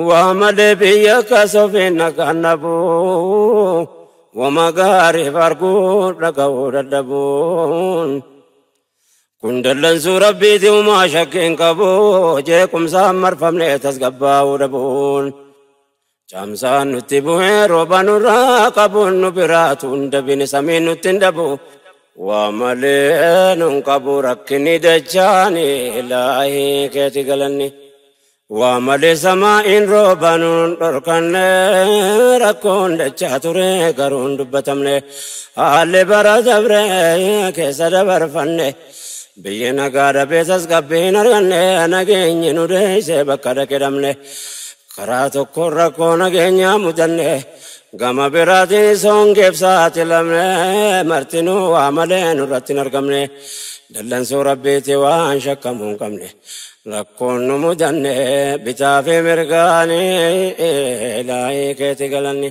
Waa malee biyya kasofiin nagaan dhabu wama gaariif arguu dhaga'uu dadhabuun kun dallansuu rabbiiti umaa shakkiin qabu jeequmsaan marfamnee tasgabbaa'uu dhabuun. Caamsaan nutti bu'ee rooba nurraa qabuun nu biraatu hunda bine samiin nutti hin dhabu. Waa malee nun qabu rakkinni dachaani ilaahii keeti galanni. Waa malee samaa'iin rooba nun dhorkanne rakkoon dachaa ture garuu hin dubbatamne. Haalli bara dabre keessa dabarfanne. Biyyi nagaa dhabeessas qabbii hin arganne nageenyi nu deessee bakka dhaqedhamne. Karaa tokkoon rakkoo nageenyaa mudanne, gama biraatiinis hongeef saaxilamne, martinuu waa malee nurratti hin argamne, dallansuu Rabbiitti waan shakkamuu hin qabne. Rakkoon nu mudanne bitaa fi mirgaani, ilaahii keeti galanni.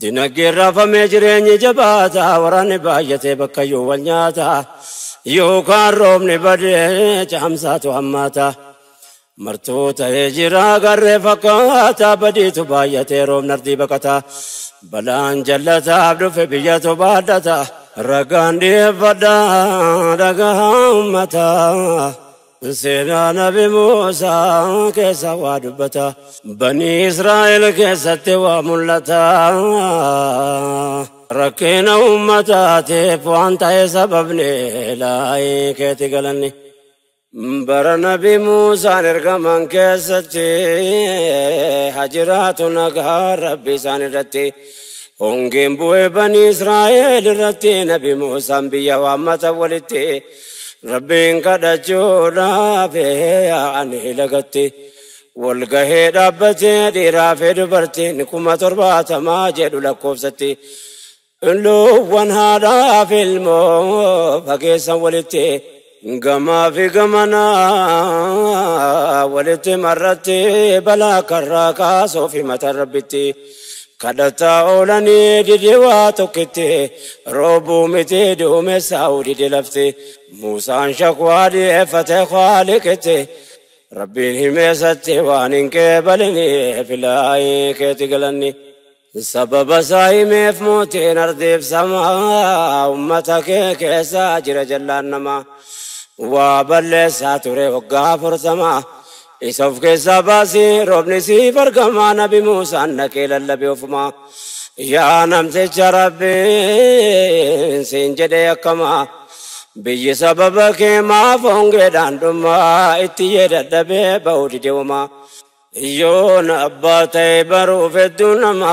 Dinagdeen raafamee jireenyi jabaata, waraanni baay'atee bakkayyuu wal nyaata. Yookaan roobni badee caamsaatu hammaata. Martuu ta'ee jira garree fakkaata, badiitu baay'atee roobni ardii baqata. Balaan jallataaf dhufe biyyatu baadhata. Ragaan dhiyeeffadha dhagahaa ummata. Seenaa nabi Muusaa keessa waa dubbata. Banii Israa'el keessatti waa mul'ata. Rakkina uummataatiif waan ta'e sababni laayii keeti galanni. Bara nabi Muusaan ergaman keessatti hajiraatu nagaa rabbi isaan irratti. Hongeen bu'ee banii Israa'el irratti nabi Muusaan biyya waammata walitti. Rabbiin kadhachuudhaaf yaa'anii lagatti wal gahee dhaabbatee dhiiraa fi dubartiin kuma torbaatamaa jedhu lakkoofsatti. Luuwwan haadhaa fi ilmoo fageessan walitti gamaa fi gamanaa walitti marratti balaa karraa kaasuuf himatan rabbitti. Kadhataa oolanii dide waa tokkitti, roobuu miti duumessaa'uu dide lafti. Muusaan shakwaa dhiyeeffate Khaaliqitti, Rabbiin himeesatti waan hin qeebaliniif ilaahi keeti galanni. Sababa isaa himeef mootiin ardiif samaa, ummata kee keessa jira jallaan namaa. Waa balleessaa ture waggaa afurtama, Isa of keessaa baasi roobni siif argama nabi Muusaan dhaqee lallabe ofuma. Yaa namticha rabbiin siin jedhee akkama. Biyyi sababa kee maaf hongeedhaan dhuma itti yee dadhabee ba'uu dide wama. Yoon abbaa ta'e baruuf hedduu nama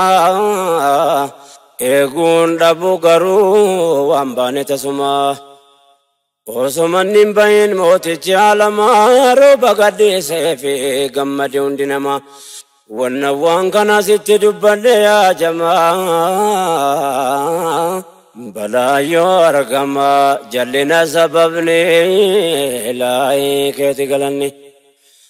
eeguun dhabu garuu waan baane tasuma. Osoo manni hin bahin mootichi alamaa rooba gadhiisee fi gammade hundi namaa. Wanna waan kana sitti dubbadhe yaa jamaa balaa yoo argama jallina sababni laayii keeti galanni.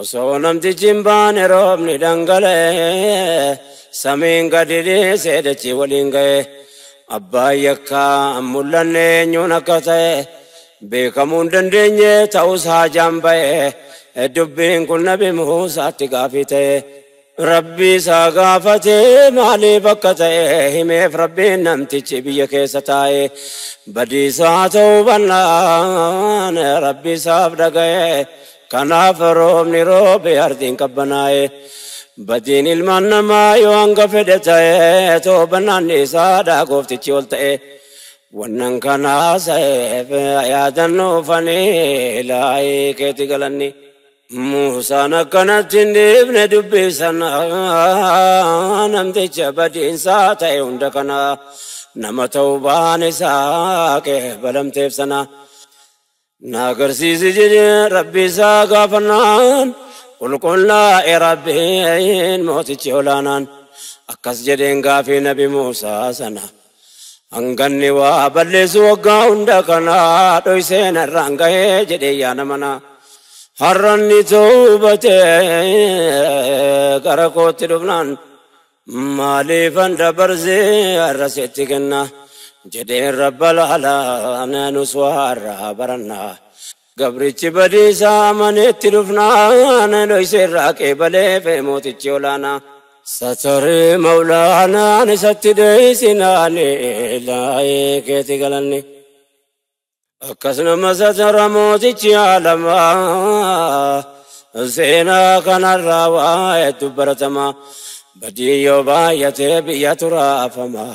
Osoo namtichi hin baane roobni dhangala'e samiin gadi dhiisee dachii waliin ga'e abbaan yakkaa hin mul'anne eenyuun akka ta'e beekamuu hin dandeenye ta'us haajaan ba'e dubbiin kun nabi Muusaatti gaafii ta'e. Rabbii isaa gaafate maaliif akka ta'e himeef Rabbiin namtichi biyya keessa taa'e badiisaa ta'uu bannaan Rabbi isaaf dhaga'e kanaaf roobni roobe ardiin qabbanaa'e badiin ilmaan namaa yoo hanga fedhe ta'e toobannaan isaadha gooftichi ol ta'e wannan kanaa sa'eef yaadannuufanii laayii keeti galanni. Muusaan akkanatti hin dhiifne dubbii sana namticha badiinsaa ta'e hunda kana nama ta'uu baan isaa qeebalamteef sana na agarsiisi jedhee rabbii isaa gaafannaan qulqullaa'e rabbiin mootichi olaanaan akkas jedheen gaafii nabi Muusaa sana. Hanganni waa balleessu waggaa hunda kana dhoysee narraan gahee jedhee yaa nama na. Har'anni toobate gara kootti dhufnaan maaliifan dabarsee har'a sitti kenna jedheen rabba laala nus waa har'aa barannaa. Gabrichi badiisaa amanee itti dhufnaan dhoyse irraa qeebaleef mootichi olaanaa. Sataree mawlaanaan isatti dheeysinaan ilaahee keeti galanni. Akkas nama satara mootichi aalamaa seenaa kanarraa waa hedduu baratamaa badii yoo baay'atee biyya turaafamaa.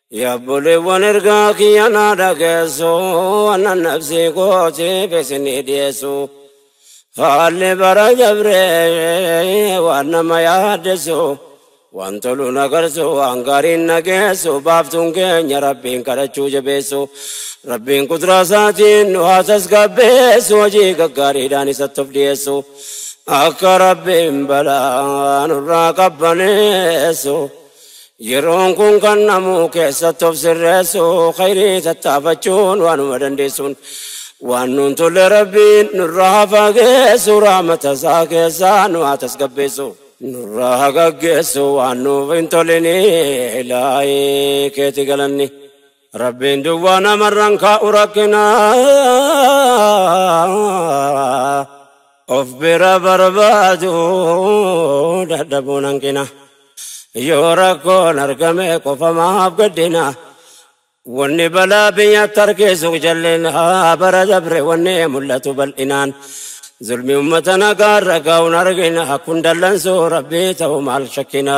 Yaa obboleewwan ergaa kiyya naa dhageessu annan nafsii kootiif isinii dhiyeessu. Haalli bara dabree waan nama yaaddessu waan tolu na garsu waan gaariin na geessu baaftuun keenya rabbiin kadhachuu jabeessu. Rabbiin qudraa isaatiin nu haa tasgabbeessu hojii gaggaariidhaan isatti of dhiyeessu. Akka rabbiin balaa nurraa qabbaneessu. Yeroon kun kan namuu keessatti of sirreessu khayrii tattaafachuun waanuma dandeessuun waan nuun tolle rabbiin nurraa haa fageessu rahmata isaa keessaa nu haa tasgabbeessu. Nurraa haa gaggeessu waan nuuf hin tolinii ilaahii keeti galanni. Rabbiin duwwaa namarraan kaa'u rakkina of bira barbaadu dadhabuun hanqina yoo rakkoon argame qofa maaf gaddina wanni balaa biyya tarkeessu jallina bara dabre wanni mul'atu bal'inaan zulmi ummata nagaa irra gaa'uun argina kun dallansuu rabbii ta'u maal shakkina.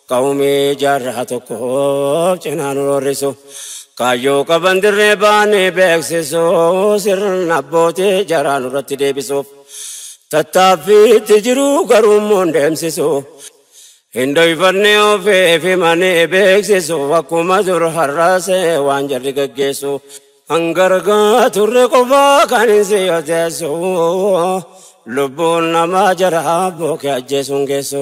Qawmii jaarraa tokkoof cinaa nu roorrisu. Kaayyoo qaban dirree baanee beeksisu. Sirna abbootii jaraa nurratti deebisuuf. Tattaaffiitti jiru garuummoon deemsisu. Hin dhoyfanne ofiif himanii beeksisu. Akkuma dur har'as waan jarri gaggeessu. Hanga argaa turre qofaa kan hin siyoteessu. Lubbuun namaa jaraa abboo kee ajjeesuun geessu.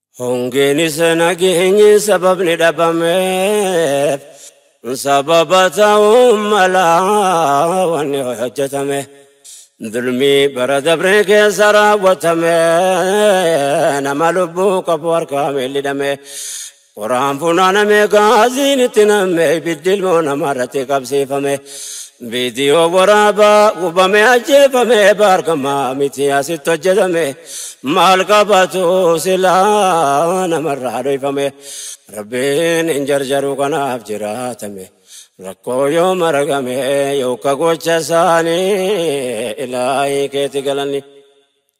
Hongeenis nageenyi sababni dhabameef sababa ta'uu mala wanni hojjetame. Dulmii bara dabree keessa raawwatame nama lubbuu qabu harkaa miidhidhame. Qoraan funaaname gaaziin itti namme ibiddi ilmoo namaa irratti qabsiifame. Viidiyoo waraabaa gubame ajjeefame baargama miti asitti hojjetame maal qabatu silaa namarraa dhoyfame rabbiin hin jarjaru kanaaf jiraatame rakkoo yoo maragame yooka gocha isaanii ilaahii keeti galanni.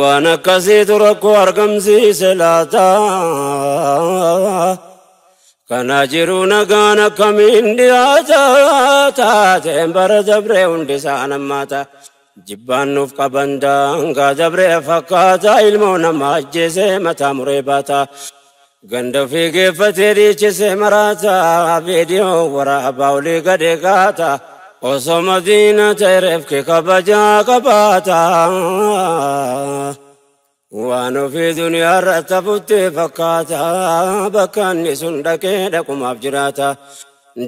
Waan akkasiitu rakkoo argamsiise laata? Kana jiru nagaan akkamiin dhiyaata? Taateen bara dabree hundi isaan hammaata. Jibbaan nuuf qaban daangaa dabree fakkaata. Ilmoo namaa ajjeesee mataa muree baata. Ganda ofii geeffatee dhiichise maraata viidiyoo waraabaa olii gadi gaata osoo madiina ta'e reefki kabajaa qabaata waan ofii duniyaa irratti hafutti fakkaata bakka inni sun dhaqee dhaqumaaf jiraata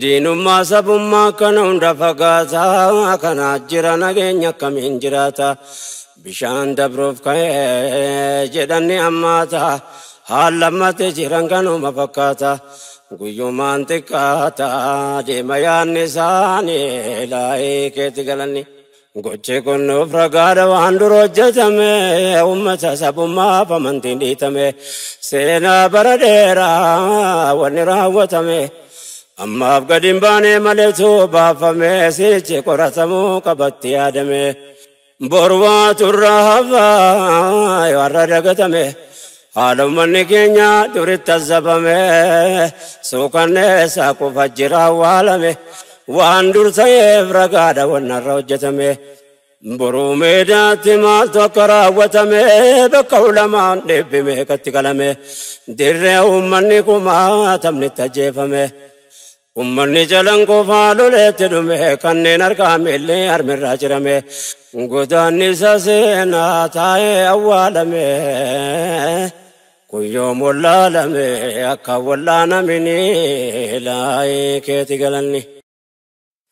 Diinummaa sabummaa kana hunda fagaataa kanaa jira nageenya akkamiin jiraata bishaan dabruuf ka'ee jedhanni ammaata haal lammate jiran kanuma fakkaata guyyumaan xiqqaata deema yaanni isaanii laa'ee keetti galanni. Gochi kun nuuf ragaadha waan dura hojjetame uummata sabummaaf amantiin dhiitame seenaa bara dheeraa wanni raawwatame ammaaf gadi hin baanee maletu baafame sichi qoratamuu qabatti yaadame borwaa turra hafaa yoo har'a dagatame Haala ummanni keenya duritti azzabame suukanneessa kufa jira awwaalame waan dur ta'eef ragaadha wannarra hojjetame boruu meedaatti maaltu akka raawwatame bakka ulamaan dhibbi meeqatti qalame dirree ummanni kumaatamnitti ajjeefame Ummanni Calanqoo Faaloleetti dhume kanneen harkaa miilli harmirraa cirame godaannisa seenaa taa'ee awwaalame kun yoom wallaalame akka wallaanaminii laayii keeti galanni.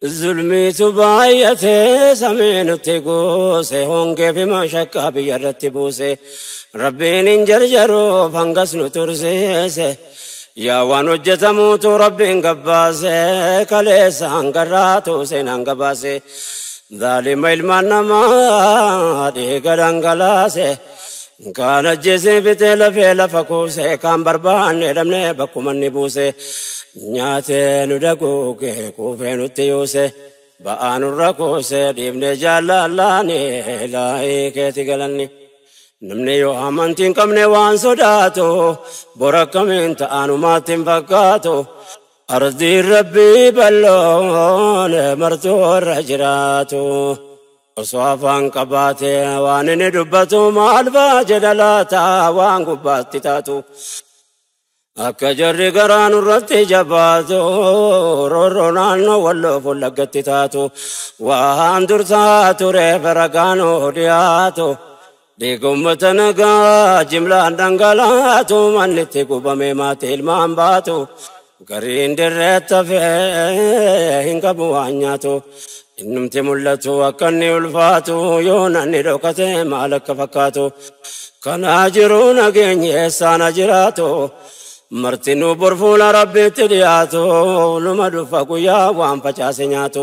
Zulmiitu baay'ate samii nutti guuse hongee fi mashakkaa biyya irratti buuse rabbiin hin jarjaruuf hangas nu tursiise yaa waan hojjetamuutu rabbiin gabbaase kaleessa hangarraatu seenaan gabaase zaalima ilmaan namaa dhiiga dhangalaase Kaan ajjeesee fixee lafee lafa kuusee kaan barbaannee dhabnee bakkuma inni buusee nyaatee nu daguugee quufee nutti yuusee ba'aa nurra kuusee dhiibnee jaallallaanee laayii keeti galanni. Namni yoo amantii hin qabne waan sodaatu bor akkamiin ta'anumaatti hin fakkaatu. Ardiin rabbii balloon martuu warra jiraatu. Osoo afaan qabaatee waan inni dubbatu maal fa'a jedha laata waan gubbaatti taatu. Akka jarri garaa nurratti jabaatu roorroo naannoo walloo fullaggatti taatu waan dursaa tureef ragaan dhiyaatu. Dhiiga ummata nagaa jimlaan dhangalaatu manni itti gubame maatii ilmaan baatu gariin dirreetti hafee hin qabu waan nyaatu innumti mul'atu akka inni ulfaatu yoo nanni dhokate maal akka fakkaatu kanaa jiru nageenyi eessaana jiraatu martinuu borfuula rabbiitti dhiyaatu numa dhufa guyyaa waan facaase nyaatu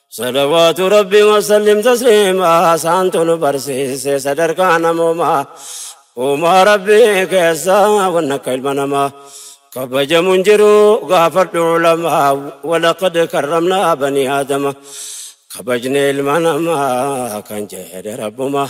Salawaatu Rabbi wasallim tasliimaa saantu nu barsiise sadarkaa namoomaa uumaa Rabbi keessaa wanna akka ilma namaa kabajamu hin jiru gaafadhu ulamaa walaqad karramnaa banii aadama kabajne ilma namaa kan jedhe rabbumaa.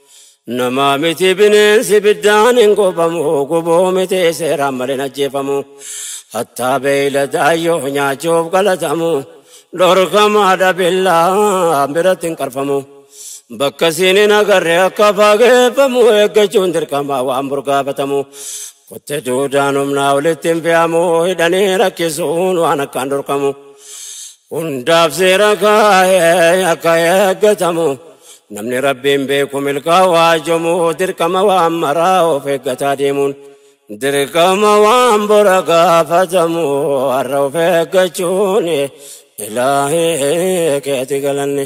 Namaa miti bineensi ibiddaan hin gubamu gubuu miti seeraan malee hin ajjeefamu. Hattaa beeyladaa yoo nyaachuuf galatamu dhorkamaadha billaa biratti hin qarfamu. Bakka siin hin agarre akka fageeffamu eeggachuun dirqamaa waan burgaafatamu. Kotte duudaan humnaa olitti hin fe'amu hidhanii rakkisuun waan akkaan dhorkamu. Hundaaf seera kaa'ee akka eeggatamu. Namni rabbiin beeku milkaa'aa jomu dirqama waan maraa of eeggataa deemuun. Dirqama waan bora gaafatamu har'a of eeggachuun ilaahee keeti galanne.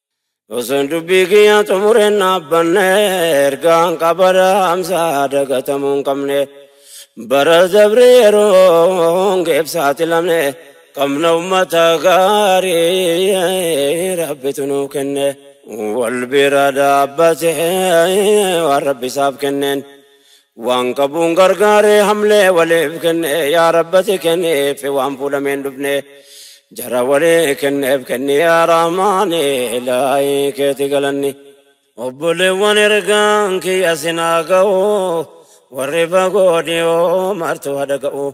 Osoon dubbii kiyyaa xumureen dhaabbanne ergaan qabara amsaa dagatamuu hin qabne. Bara dabre yeroon geebsaati lamne qabna ummata gaarii rabbitu nuu kenne. Wal bira dhaabbatee waan rabbi isaaf kenneen. Waan qabuun gargaaree hamlee waliif kenne yaa rabbati kenniif waan fuudhameen dhufne jara walii kenneef kenni yaa rahmaani ilaahi keeti galanni. Obboleewwan ergaan kiyya sinaa ga'u warri fagoo dhiyoo martuu hadhaga'u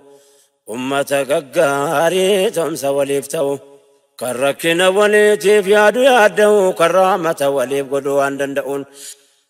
ummata gaggaarii tomsa waliif ta'u kan rakkina waliitiif yaadu yaadda'u kan rahmata waliif godhu waan danda'uun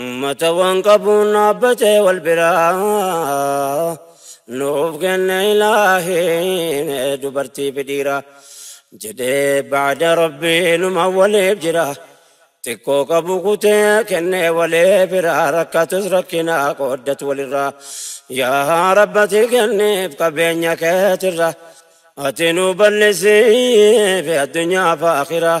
Ummata waan qabuun dhaabbatee wal biraa nuuf kenne ilaahiin dubartii fi dhiira jedhee baada rabbii numa waliif jira xiqqoo qabu kutee kennee walee biraa rakkatus rakkinaa qooddatu walirraa yaa rabbati kenniif qabeenya keetirra ati nu bal'isiif addunyaa fi akhiraa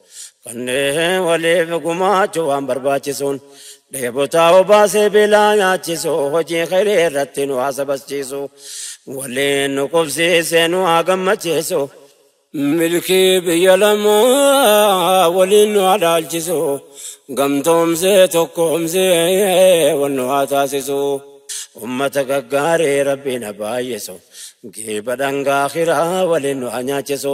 Kanneen waliif gumaachuu waan barbaachisuun dheebotaa obaasee beelaa nyaachisu hojii khayrii irratti nu haa sabachiisu waliin nu qubsiisee nu haa gammachiisu milkii biyya lamaa waliin nu haa dhaalchisu gamtoomsee tokkoomsee wal nu haa taasisu ummata gaggaarii rabbiin haa baay'isu geeba dhangaa akhiraa waliin nu haa nyaachisu.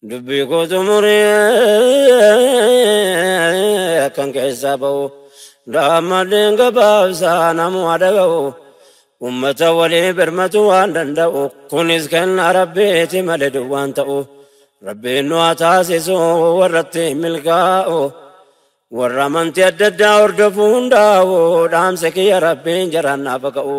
Dubbii koo xumuree akkan keessaa ba'u daammadheen gabaabsaa namuma dhaga'u ummata walii birmatu waan danda'u kunis kenna rabbiiti malee duwwaan ta'u rabbiin nu haa taasisu warratti milkaa'u warra amantii adda addaa hordofu hundaa'u dhaamsa kiyya rabbiin jaraan naaf haa ka'u.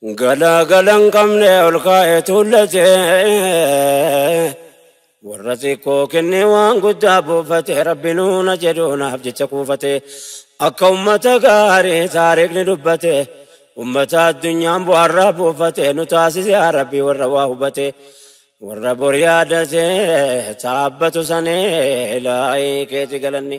Galaa gala hin qabne ol kaa'ee tuullate. Warra xiqqoo kennee waan guddaa buufate rabbi nuuna jedhuunaaf jecha kuufate. Akka ummata gaarii taariikni dubbate. Ummata addunyaan bu'aarraa buufate nu taasise yaa rabbi warra waa hubate. Warra bor yaadate taabbatu sanii laayii keeti galanni.